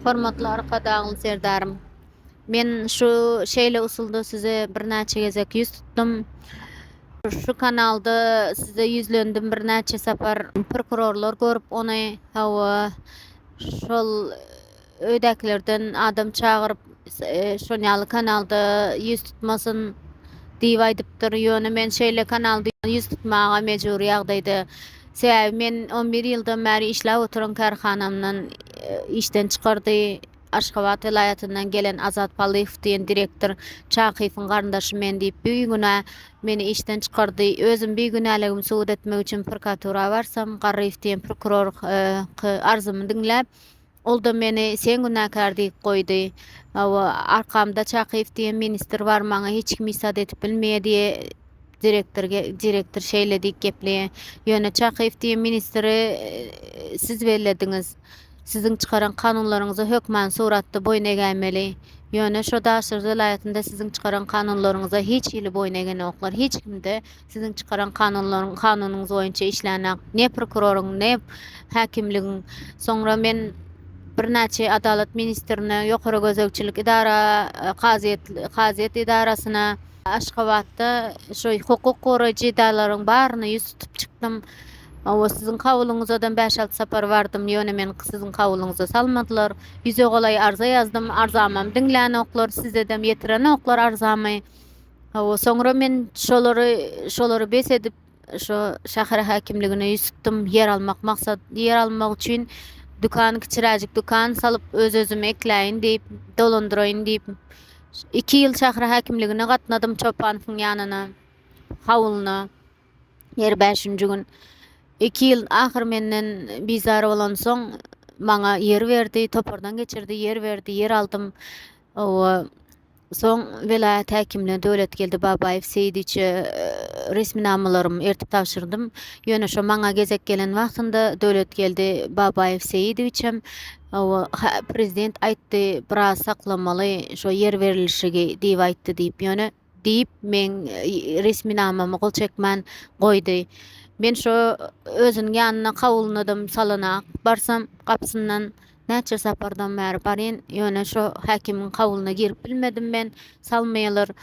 Hormatly Arkadagym Serdarym! Men şu şeýle usulda size birnäçe gezek ýüz tutdum. Şu kanalda size ýüzlendim birnäçe sapar. Prokurorlar görüp ony, hawa, şol öýdäkilerden adam çagyryp, şol ýaly kanalda ýüz tutmasyn diýip aýdypdyr. Ýöne men şeýle kanalda ýüz tutmaga mejbury ýagdaýda. Sebäbi men 11 ýyldan bäri işläp oturan kärhanamdan e, işden çykardy. Aşgabat welaýatyndan gelen Azat Palyhow diýen direktor Çakyýewiň garyndaşy men diýip bigünä meni işden çykardy. Özüm bigünäligimi subut etmek üçin prokuratura barsam, Garryýew diýen prokuror e, arzymy diňläp, Ol-da meni sen günäkär diýip goýdy. Hawa, arkamda Çakyýew diýen ministr bar, maňa hiç kim isat edip bilmeýär diýe direktor direktor şeýle diýip gepleýär. Ýöne Çakyýew diýen ministri siz bellediňiz. Siziň çykaran kanunlaryňyza hökman suratda boýun egäýmeli. Ýöne şo Daşary welaýatynda siziň çykaran kanunlaryňyza hiç hili boýun egenoklar. Hiç kimde Siziň çykaran kanunlaryň kanunyňyz boýunça işlänok. Ne prokuroryň, ne häkimligiň. Soňra men birnäçe adalat ministrine, ýokary gözegçilik edara, kazyýet kazyýet edarasyna, Aşgabatda şu hukuk goraýjy edaralaryň baryna ýüz tutup çykdym. Hawa, siziň kabulyňyzadam bäş-alty sapar bardym, ýöne meni siziň kabulyňyza salmadylar. Ýüze golaý arza ýazdym, arzamam diňlänoklar, sizedem ýetirenoklar arzamy. Hawa, soňra men şolary, şolary bes edip, şu şäher häkimligine ýüz tutdum. Ýer almak maksat, ýer almak üçin dükan, kiçiräjik dükan salyp, öz-özümi ekläýin diýip, dolandyraýyn diýip, iki ýyl şäher häkimligine gatnadym, Çopanowyň ýanyna, hawlyna. Her bäşinji gün. Iki ýyl ahyr menden bizar bolansoň, maňa ýer berdi, topardan geçirdi, ýer berdi, ýer aldym. Hawa, soň welaýat häkimine Döwletgeldi Babaýew Seýidiçe resminamalarym ertip tabşyrdym. Ýöne şo maňa gezek gelen wagtynda Döwletgeldi Babaýew Seýidowiç hem, Hawa, hä, prezident aýtdy, biraz saklamaly, şo ýer berilişigi diýip aýtdy diýip, ýöne, diýip, meň resminamamy gol çekmän goýdy. Men şo özüniň ýanyna kawulynadam salana barsam, gapysyndan näçe sapardan bäri baryn, ýöne şo häkimiň kawulyna girip bilmedim men, salmaýalar.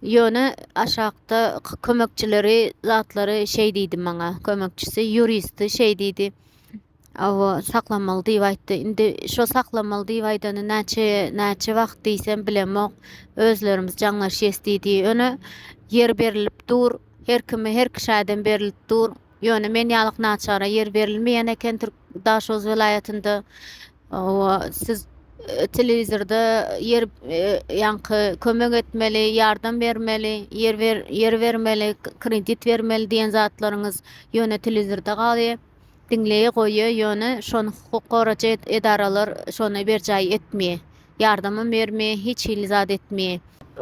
Ýöne aşakda kömekçileri zatlary şeý diýdi maňa, kömekçisi, ýuristi şeý diýdi, Awa, saklamaly diýip aýtdy. Indi şo saklamaly diýip aýdany näçe näçe wagt diýsem bilemok. Özlerimiz jaňlaşýas diýdi. Ýöne ýer berilip dur. Her kime her kişäden berilip dur. Ýöne men ýalyk naçara ýer berilmeýän eken Türk Daşoguz welaýatynda. Awa, siz e, telewizorda ýer e, ýaňky kömek etmeli, ýardam bermeli, ýer ber, ýer bermeli, k- kredit bermeli diýen zatlaryňyz ýöne telewizorda galýar. diňleýe goýýa ýöne şony hukuk goracy edaralar şony berjaý etmýe ýardamam bermýe hiç hili zat etmýe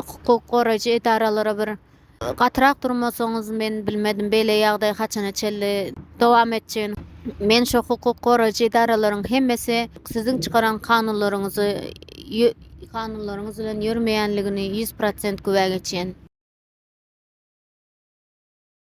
hukuk goracy edaralara bir gatyrak durmasaňyz men bilmedim beýle ýagdaý haçana çenli dowam etjegini men şo hukuk goracy edaralaryň hemmesi siziň çykaran kanunlaryňyzy kanunlaryňyz bilen ýörmeýänligini ýüz prosent güwä geçýän.